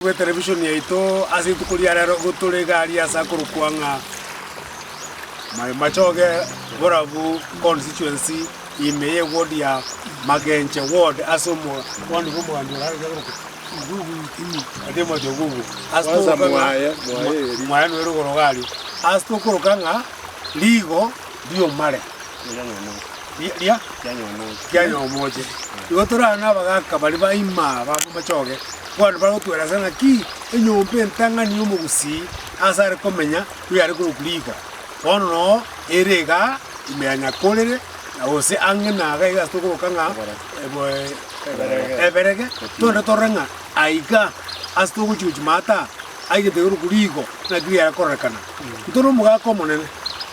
Bw'etelevishoni yaito ase rituko ria rero nigo tore iga aria ase akorokwa ng'a Mai Machoge Borabu Constituency ime ye ward ya Magenche ward ase omogondo bw'omoganda o Harare akorokwa Igugu Timothy Ogugu ase togokora ng'a mwaye noyo rogoro iga aria ase tokoroka ng'a rigo ri'omare. ria Rianyaomoche. Igo torare nabagaaka baria ba ime aba b'amachoge, bono baragotwera ase ng'aki enyomba entang'ani y'omogusii aase are komenya oyare korokwa riiko, bono noo ere iga ime ya Nyakorere, na gose ang'e na iga iga ase tokoroka ng'a Eberege, togende torore ng'a aiga ase togochia gochia maata aa, aigete korokwa riiko, naki riare kororekana. Intwe nomogaaka omonene,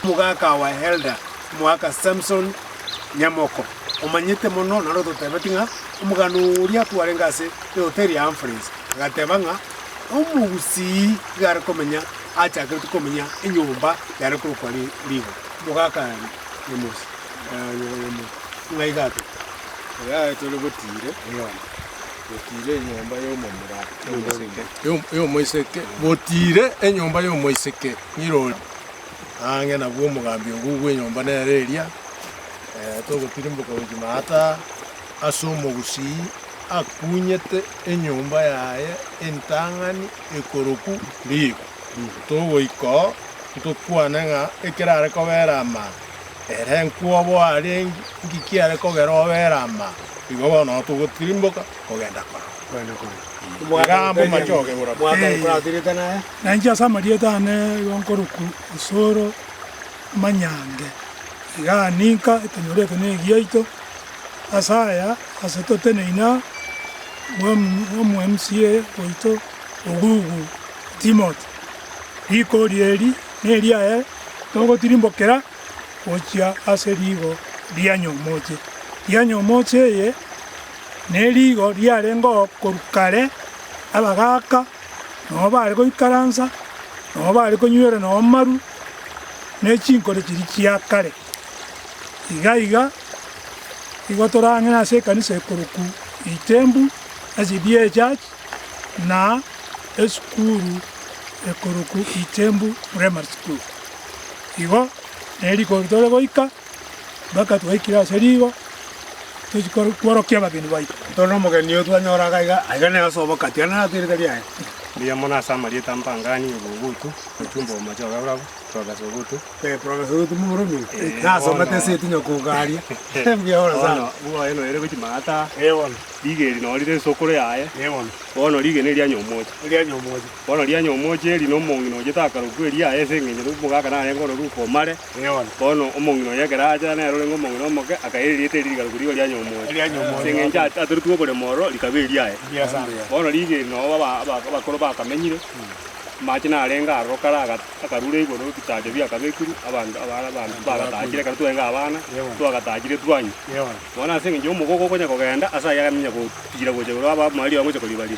omogaaka our elder. Moaka Samson nyamoko omanyete mono naro ototebeti ng'a omogano oria kwarenge ase ehoteri ya Humphreys agateba ng'a omogusii igare komenya achakeretwe komenya enyomba yare korokwa Rigo. Mogaka Nyamos ng'a igato. Oyaye tore botiire enyomba botiire enyomba y'omomura y'omoiseke. Y'omoiseke botiire enyomba y'omoiseke ng'irori. Ang'e nabwo omogambi obo bw'enyomba nere eria togotirimboka gochia maata aa, ase omogusii akunyete enyomba yaye entang'ani ekoroku riiko. Togoika oo, ntokwane ng'a ekero are kobera amaa, ere nkwobo arenge, nki kiare kogera obere amaa? Igo bono oo togotirimboka kogenda korora. Iga amo mache okegora. Na inche ase amarieta aane igo nkorokwa Osoro Manyange. Igaa ninka etonyorete negi yaito, ase aya ase toteneine aa, omwMCA oito Ogugu Timothy. Rikori eri neriaye togotirimbokera gochia ase rigo ria Nyomoche. Ria Nyomoche eye nerigo riarengeo korwa kare abagaaka. nonya baare goikaransa, nonya baare konywera nonya amaru, ne chinkoro chiria chia kare. Iga iga nigo torang'ina ase ekanisa ekorokwa Itembu, SDA Church, na esukuru ekorokwa Itembu Primary School. Igo neriko tore goika. mpaka twaikire ase rigo tochia koro- kworokia abageni baito. Tore nomogeni oyo twanyora iga iga, aiga nere ase obokati, aye narato erika riaye. Mbuya mono ase amarieta ampangani, Ebugutu, Ochumba Omocha Ogaurabu, Profesa Ogutu. Eh, Profesa Ogutu Momorumi, Eh, nase bono. omate ase etinyo kogaria. Mbuya bono sana. Bono bwa oye noyere gochia maata, Eh, bono. riga eri nori rese okoro yaye, Eh, bono. bono riga eri nerianyomoche. Erianyomoche. Bono rianya omooche eri na omong'ina oye takarokwa eria aye ase engencho nomogaka narenge ororukwa omare. Bono omong'ina oye ekero aachera nere orenge omong'ina omoke, akaira erieta eri rigaruka rigo rianya omooche, ase engencho atatorigwe oboremo ororo rikaba eriaye. Bono rigeni nao abakoro bakamenyire, amache narenge aroro kare akarure igoro ebitacha biakabekirwe, abanto abare abanto bagatachire ekero twarenge abana, twagatachire twanywa. Bono ase engencho y'omogogo okonya kogenda, ase ayio agaminya gotiira gocha igoro abe amariri aye ngocha koribariri.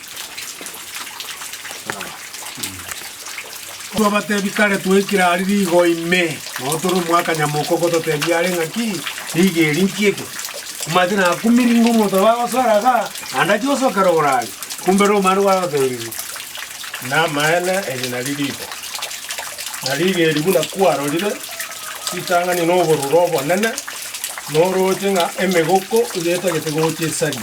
Twabatebia kare twaikire aria rigo ime, nao tore omwaka nyamoko gototebia are ng'aki, rigo eri nki eke? Omanyete nakumirie ng'a omonto oyo bagosara iga, naende achie gosokera orare. Kumbe romana nigo arotebirie, Namaene eri nari rigo, na rigo eri buna kwarorire, ritang'ani noborure obonene, norooche ng'a emegoko iga etagete gocha esari.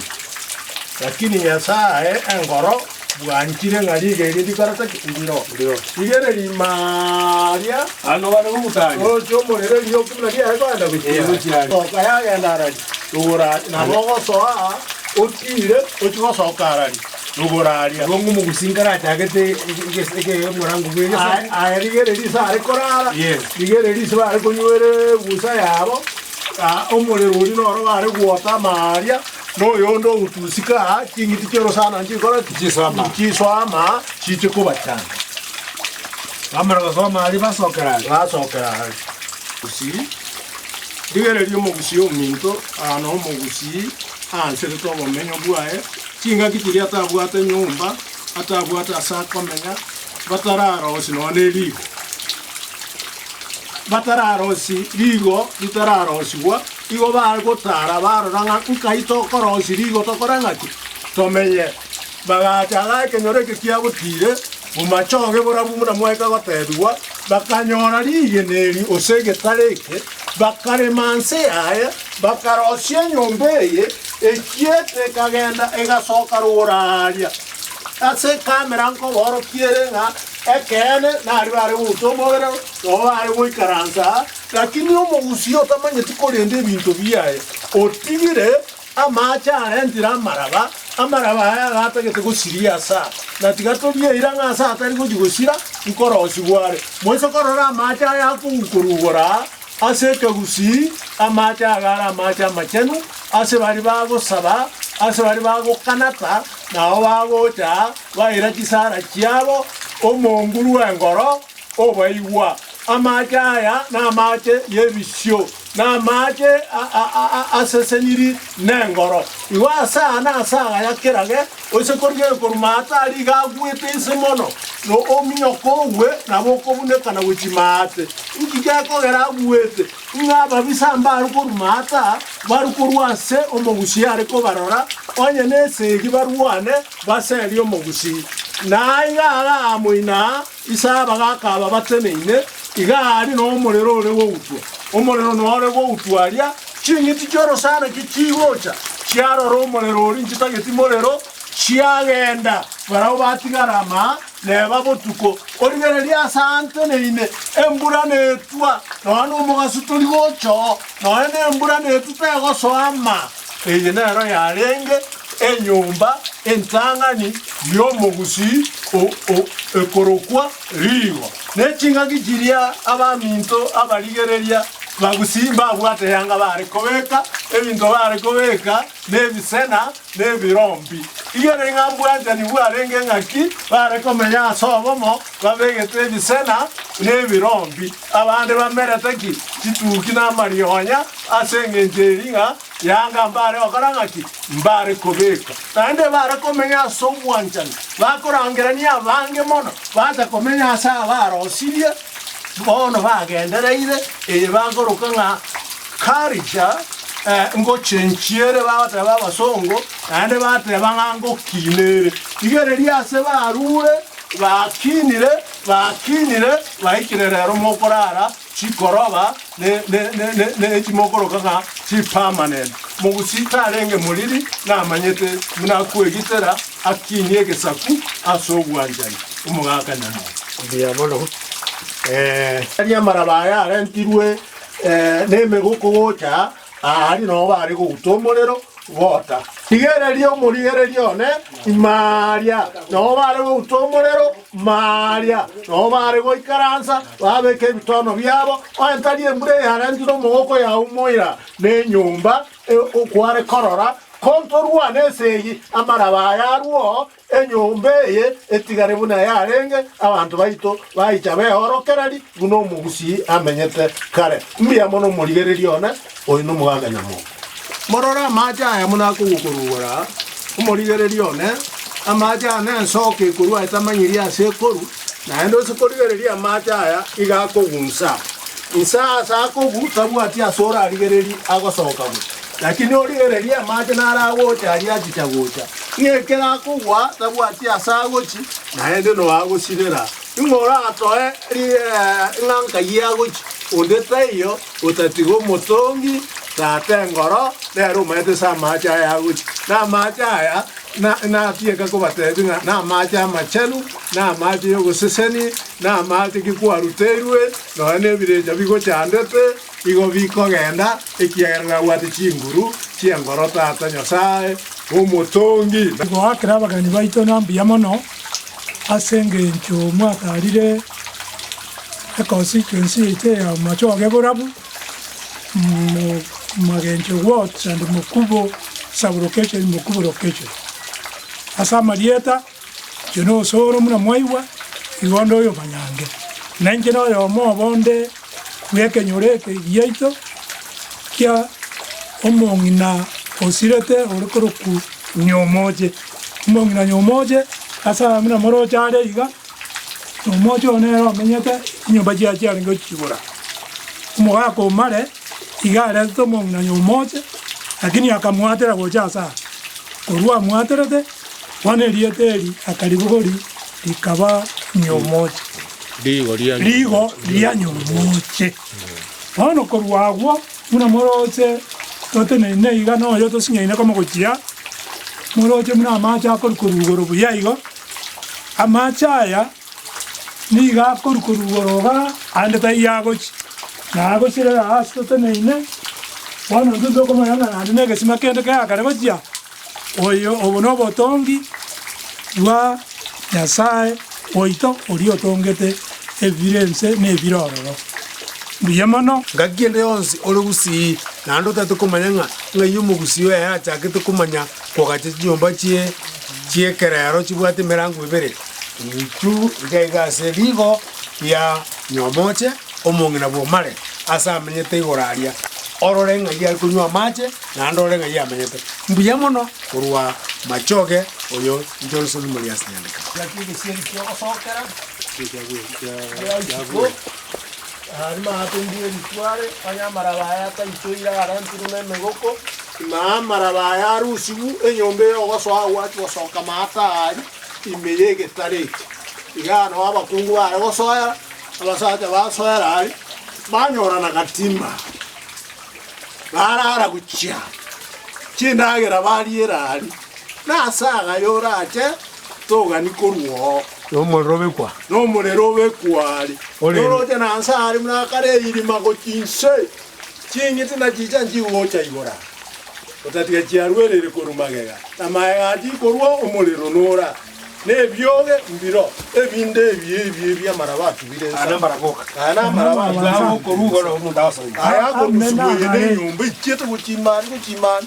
Lakini Nyasae aye enkoro bwanchire ng'a riga erio ndikore taki? Ndiro. Rigere rimaaria Ano bare gokutanya. roche omorero erioku buna riare koenda gochia Ee, gochia are. Soka yagenda arari, rugura are, nabo ogosoa otiire ochie gosoka arari. noboraria. Igo ng'o omogosinka arachagete ekegorango bwe Nyasae? Aye, aye rigere riso are korara, Yes. rigere riso bare konywera egusa yabo, ah, omorero oria noro bare gwota amaaria, na oyonde ogotusika, ah, ching'iti chi'orosana nchikore ki? Chisoama. Chisoama, chiche kobachanda. Bamara gosoma aria basokera are. Basokera are. Gusii. Rigere ri'omogusii ominto, ah, na omogusii aancherete obomenyo bwaye, Chingaki chiria atabwate nyomba, atabwate ase akomenya, batararosi nonya ne riiko, batararosi riiko ritararosigwa, igo bagotara barora ng'a nkai tokorosia riiko tokore ng'a ki? Tomenye. Bagacha agare ekenyoro eke kiagotiire, bomachoge borabu buna mwaika gotebigwa, bakanyora rigena eri, gose egetara eke, Bakarema nse yaye, bakarosia enyomba eye, echieta ekagenda egasoka rogoro aaria. Ase ekamera nkoboorokia ere ng'a ekeene nario are gouta omobere noyo are goikaransa aa, lakini omogusii otamanyeti korenda ebinto biaye, otigire Amaache arentire amaraba, amaraba aya agatagete gosiria ase aa, na tiga torie eira ng'a ase atari gochia gosira nkorosi gware. Moise korora amaache aya akogukorugora aa ase ekegusii, amaache aya agare amaache amachenu ase baria bagosaba, ase baria bagokanata, na abo bagocha baira chisara chiabo omoonguru bw'engoro, Obaigwa, amaache aya namaache yebisio, na amaache aseseniri nengoro. Igo ase aya na ase agaya kerage oise korigia ekoruma aa tari iga agwete inse mono, na ominyoko ogwe nabo okobunekana gochia maate. Inki gekogera agwete? Ng'a ababisa mbare koruma ata, bare korwa ase omogusii are kobarora, onye nesegi barwane baserie omogusii. Na aiga agaa moino aa Isaya bagaaka ababateneine, iga aria nomorero ore gogutwa, omorero nore gogutwa aria ching'iti chi'orosaanaki chigocha, chiarora omorero oria inchitageti morero, chiagenda. Barabwo batigara amaa neba botuko. Origererie ase aanteneine, embura netwa, nonya nomogaso tori gocha oo, nonya nembura netwa tegosoa amaa. Eye nero yarenge enyomba entang'ani y'omogusii o- o- ekorokwa Rigo, ne ching'aki chiria abaminto abarigereria bagusii mbabwate yanga baare kobeka ebinto baare kobeka nebisena nebirombi. Igere ng'a bwanchani bwarenge ng'aki baare komenya ase obomo babegete ebisena nebirombi. Abande bamerete ki chituki na amarionya ase engencho eria ng'a Yanga mbare gokora ng'aki? Mbare kobeka. Naende bare komenya ase obwanchani, bakorangerania abange mono bache komenya ase abarosirie bono bagendereire, eye bagoroka ng'a culture eh, ngochenchia ere bagoteba abasongo, naende bateba ng'a ngokina ere. Rigereria ase barure, bakinire, Bakinyire baikire rero mokorara chikoroba ne echimokoroka ng'a chipermanent. Mogusi tarenge moriri namanyete buna kwegitera akinyie egesaku ase obwanchani omogaka nyamoro. Diabolo ee. Tari amaraba aya arentirwe nemegoko gocha aa aria nao bare gouta omorero bota. Rigereria omorigereria one ime aaria nao bare gouta omorero Maria, nao baare goikaransa, babeka ebitono biabo, oentari embura eyarentire omogoko yaumoira, na enyomba kware korora kontorwane ase eyio, amaraba aye arwo enyomba eye etigare buna yarenge, abanto baito baicha beorokereri buna omogusii amenyete kare. Mbuya mono omorigereria one! Oyo nomogaka nyamombe. Morore amache aya buna akogokorugora aa, omorigererie one, amache aya nensoka ekorwa etamanyiri ase ekoru, naende ose korigereria amache aya iga akogunsa inse aase akogu tabwati ase orarigererie agosoka gocha, lakini origererie amache naro agocha aria achicha gocha, ng'a ekero akogwa tabwati ase agochi, naende no agosirera, ing'o oratoe rigera ng'a nkayi agochi, onde taiyo, otatiga omotongi tata engoro, nere omaete ase amaache aya agocha. Na amaache aya na- natieke kobateebia ng'a namaache amachenu, na amaache y'ogoseseni, na amaache ki kwaruteirwe, nonya nebirecha bigochandete, igo bikogenda, ekiagera nabwate chinguru chi'engoro tata Nyasae omotongi. Na Goakera abageni baito na mbuya mono, ase engencho mwataarire. econstituency yaito ya Omochoge Borabu, Magencho Ward and Mokubo sub location, Mokubo location. Ase amarieta inche na Osoro buna mwaigwa, igo nde oyomanyange. Na inche na oyomo obo nde bw'ekenyoro eke giaito kia omong'ina osirete ore korokwa Nyomoche. Omong'ina Nyomoche ase aya buna moroche are iga. na omoocho oo nere omenyete chinyomba chiaye chiarenge gochiigora. Omogaka o Mare iga aretete omong'ina oyo omooche, lakini akamoatera gocha ase aa. Korwa amoaterete, bono erieta eri akaribogori rikaba Nyomooche, rigo ria Nyomooche. Bono korwa agwo buna moroche toteneine iga na oyo tosinyaine komogochia, moroche buna amache akorikwa rugoro buya igo. Amache aya nigo akorukorugwa roba aande taiyo agochia, na agochirera aa ase toteneine. Bono intwe tokomanya ng'a naende negesima kende keaa kare gochia. Oyo obo nobotongi bwa Nyasae oito oria otongete ebibiro ense na ebire ororo. Mbuya mono! Ngaki ende yonsi ore gusii, naende otagete komanya ng'a ng'ai omogusii oyaye achakete komanya Togachia chinyomba chi'ekerero chibwate emerango ebere, intwe iga iga ase rigo ria nyomooche omong'ina bw'omare aase amenyete igoro aria, orore ng'ai are konywa amache, naende orore ng'ai amenyete mbuya mono korwa machoge. Oyo Johnson Moriasi Nyandekano. Naharimo aatungire eritware, onye amaraba aye ataichoire agarentire nemegoko, na amaraba aye arusigwe, enyomba eyogosoa agwo achi gosoka maata aria ime y'egetare eke. Igaa nao abakungu baare gosoera, abasacha basoera aria, banyora na gatima, baraara gochia chindagera bariera aria. Nase agaya orache togani korwa oo. Nomorero obe kwa. Nomorero obe kware. Noroche na nse aare buna akare erima go chinse ching'iti na chicha nchigocha igora, otatiga chiaruerire korwa magega, na magega atikorwa omorero nora, na ebioge mbiro ebinde ebi ebi ebi amaraba atubire nse aya. Aya namaraba atubire nse aya akorusugwa eye nenyomba ichiete gochia imani gochia imani.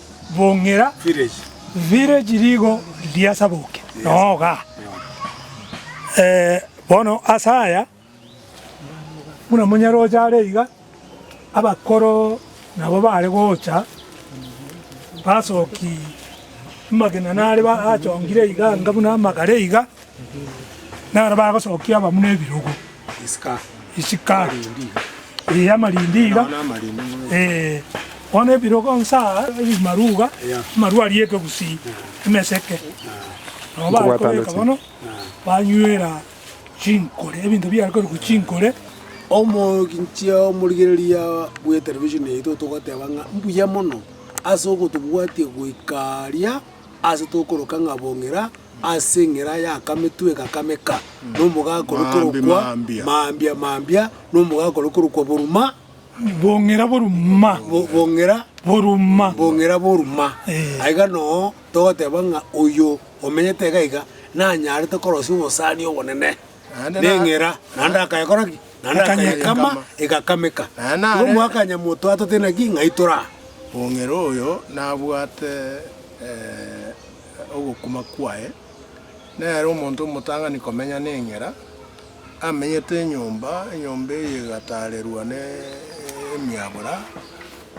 bong'ira, village rigo riasaboke noo iga. Bono ase aya buna Munyaroche are iga, abakoro nabo bare gocha basoki amagena nare achongire iga anga buna amagare iga. Naro bagosokia abamura ebirogo, isiko ee, amarindi iga, ee. Bono ebirogo inse aa, ebimaru iga, amaru arietwe gusii, emeseke, nabo bare kobeka bono, banywera chinkore, ebinto biare korokwa chinkore. Omoinche omorigereria bw'etelevisheni yaito togoteba ng'a mbuya mono ase ogotobwatia goika aria ase tokoroka ng'a bong'ira Ase eng'era y'akametwe gakameka, nomogaka oria korokwa Maambia, Maambia, nomogaka oria korokwa Boruma, Bong'ira Boruma, Bong'ira Boruma, Bong'ira Boruma, aiga noo togoteba ng'a oyo omenyete iga iga nanyarete korosia obosani obonene neng'era, naende akayekora ki? Naende akayekama, egakameka. Igo mwakanya motwatotire naki ng'ai toraa. Bong'ira oyo nabwate. ogokuma kwaye, nere omonto omotang'ani komenya neng'era, amenyete enyomba, enyomba eye egataarerwa nemiabura,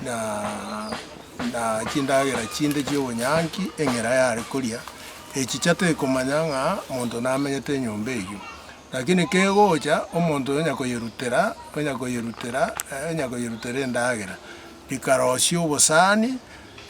na chindagera chinde chi'obonyanki eng'era yare koria, echicha tekomanya ng'a monto namenyete enyomba eyio. Lakini kegocha omonto onya koyerutera, onya koyerutera, onya koyerutera endagera, rikarosia obosani.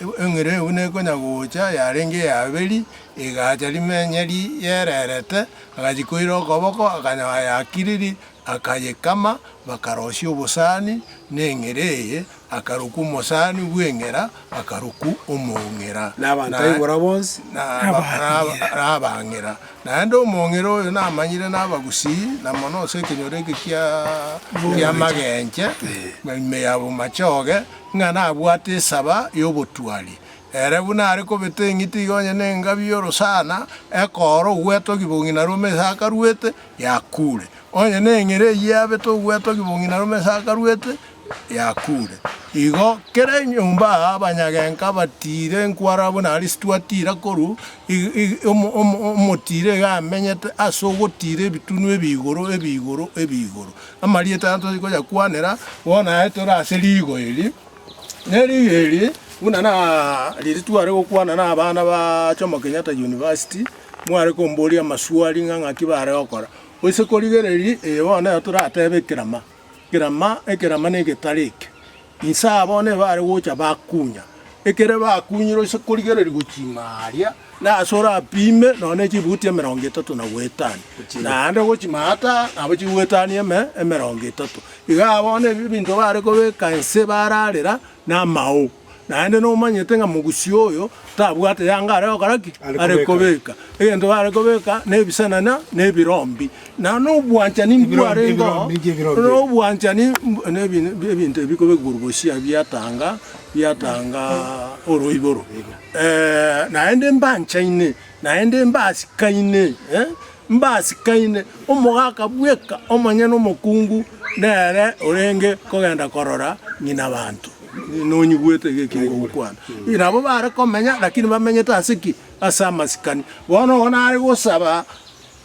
Eng'ira eyo buna ekonya gocha, yarenge ya Abeli, egaacha rimenyeri yererete, agachia koira okoboko, akanyaa yakiriri, akayekama, bakarosia obosani neng'ira eye, akarokwa omosani bw'eng'ira, akarokwa omong'ira. Na abanto aigoro bonsi nabang'ira, naende omong'ira oyo namanyire nabagusii, na mono ase ekenyoro eke ki'amagenche, ime yabo machoge, Ng'a nabwate esaba y'obotuari, ere buna are kobeta eng'iti iga onye nengabi y'orosana, ekoora ogweta ogibong'i na rome ase akaruete, yakuure. Onye neng'ere eyio yabeta ogweta ogibong'i na rome ase akaruete, yakuure. Igo kera enyomba abanyagenka batiire nkwara buna Arisitu atiira korwa omotiro iga amenyete ase ogotiira ebitunu ebi'igoro ebi'igoro ebi'igoro. Amarieta aya toria koyakwanera bono aye tore ase rigo eri, ne rigo eri buna na riri tware gokwana na abana ba Jomo Kenyatta University, mware komboria amaswali ng'a ng'aki bare gokora. Gose korigereria eye bono nero toratebe ekerama, ekerama, ekerama na egetari eke. Inse abwo nigo are gocha bakunya. Ekero bakunyire ase korigereria gochima aaria, nase orapime nonya ne chibuti emerongo etato na goetania, naende gochima ata aa nabo chigoetania eme emerongo etato. Iga aa bono ebinto bare kobeka inse bararera namao, naende nomanyete ng'a mogusia oyo tabwate yanga are gokora ki? Are kobeka. Egento bare kobeka nebisanana na ebirombi. Na nobwanchani mbwarengeo nobwanchani nebinto ebi kobegurugusha biatanga biatanga oroiboro, naende mbanchaine, naende mbasikaine, mbasikaine, omogaka bweka omonyene omokungu nere orenge kogenda korora ng'ina banto, nonyigwete iga ekeri gokwana. Nabo bare komenya, lakini bamenyete ase ki? Ase amasikani. Bono ogo nare gosaba.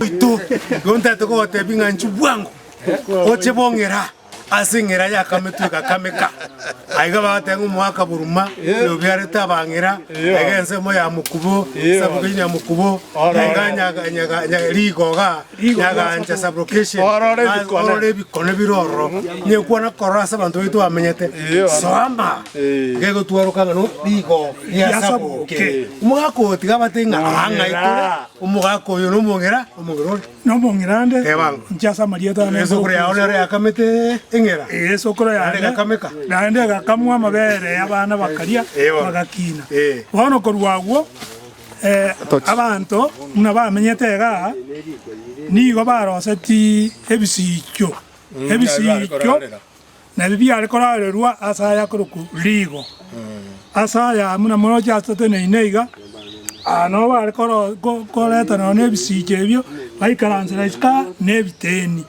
Oito, igo ntaete kogotebi ng'a inchuo bwango, oche bong'era ase eng'era y'akametwe gakameka. Aiga bagateba ng'a omoaka boruma nobiarete abang'era, aiga ensemo ya mokubo, sublocation ya mokubo, aiga nyaga- nyaga- nya- rigoga, nyagaancha, sublocation, orore ebikone bire ororo, nyekwana korora ase abanto baito bamenyete, soama. gegotwaroka ng'a no rigo riasaboke. Omogaka oyo tiga abate ng'a aa ng'ai kore omogaka oyo nomong'era, omong'era one. Nomong'era nde. Teba ng'a. Inche ase amarieta ane. Esokoro yao nero yakamete eng'era. Esokoro yane. Naende egakameka. Naende egakamwa amabere y'abana bakaria. Eyo. Bagakina. Ee. Bono korwa agwo abanto buna bamenyete iga aa nigo baroseti ebisiicho, ebisiicho. Na ebi biare korarerwa ase aya akorokwa Rigo, ase aya amo namoroche ateteneine iga, aa nobo bare koreta nonya nebisiiche ebio, baikaransere isiko aa nebiteni.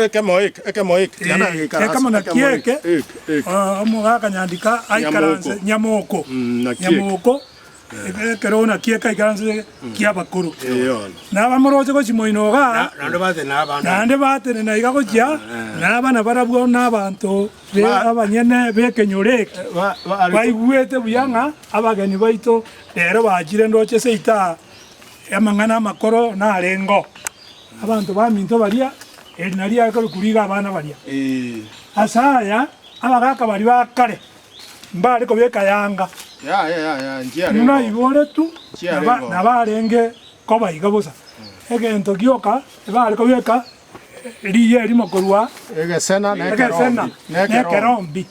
Ekemo nakio eke, omogaka nyandika aikaranse nyamoko, nyamoko. Ekeroona ki'eka ikaranse ki'abakoro, na abamoroche gochia moinoga, naende baatenena iga gochia, na abana barabwo na abanto abanyene b'ekenyoro eke baigwete buya ng'a abageni baito rero bachire ndooche ase itaha y'amang'ana amakoro narengeo. Abanto baminto baria, erina riaye korikwa riga abana baria. Ase aya abagaaka baria ba kare. mbare kobeka yanga, buna iboretwe nabarenge kobaiga bosa, egento gioka ebare kobeka riiya erimo korwa egesena nekerombi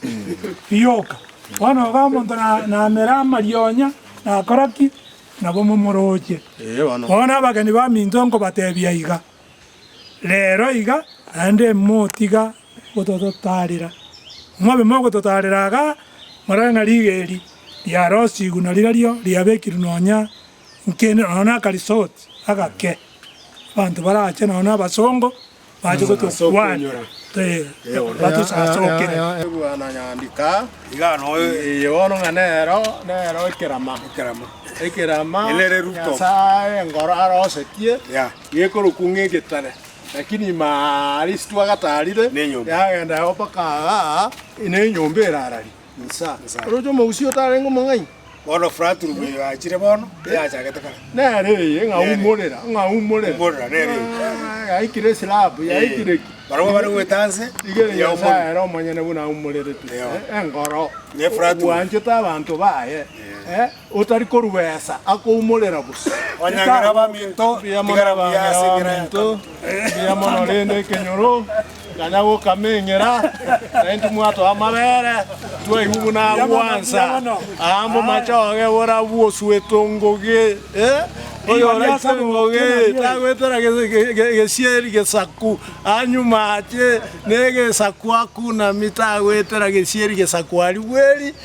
rioka. Bono iga omonto namera amarionya, nakora ki? Nabo momoroche. Bono abageni baminto nkobatebia iga. Reero iga naende motiga gotototaarera. Mobe mogototaarera iga morore ng'a rigeeri riarosigwe na rirario riabekirwe nonya inki ende nonya naka resort agake. Abanto barache nonya na abasongo bache gotokwana batusasokere. Bwana nyandika iga no eye bono ng'a nero nero ekerama ekerama ekerama Nyasaye engoro arosetie. gekorokwa ng'egetare, lakini ime aa Lisitwa agataarire yagenda yao mpaka aa nenyomba erarari insa. Oroche omogusii otarenge omong'aini, bono fraturu bwegachire bono, eyachagete kare. Nere eye ng'aumorera, ng'aumorera, Umorera, nere eye. Ah, yaikire eslab, yaikire ki? Barabwo bare goeta nse, Iga eye yaumorera. Nyasaye ere omonyene buna aumoreretwe, Eyo. eh, engoro, Nefratu. obwanchete abanto baye, eh, Otari korwesa akoumorera bosio. Onyangira abaminto, tigara buya ase eng'ira ya Tobiti. Mbuya mono rende ekenyoro, tanya gokama eng'ira, naye timwatoa amabere, twaigwa buna agwansa, aa momache oge bora bwosuetwe ngoge, eh, oyoraitwe ngoge tagwetera gesieri gesaku, aa nyuma ache negesaku akunami tagwetera gesieri gesaku aria bweri,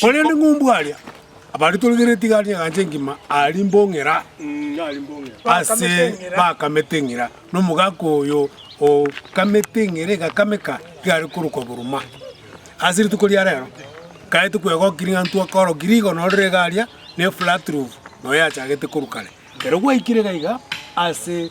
Korende ng'umbu aria abaritoregeretie igare ri'engancha engima aria mbong'era ase bakamete eng'ira, na omogaka oyo okamete eng'ira egakameka igare korokwa Buruma. Ase rituko ria rero nkaete kwegokia ring'antu akorokia rigono rire iga aria ne flat roof noyo yachagete korwa kare. Ekero gwaikire iga iga ase.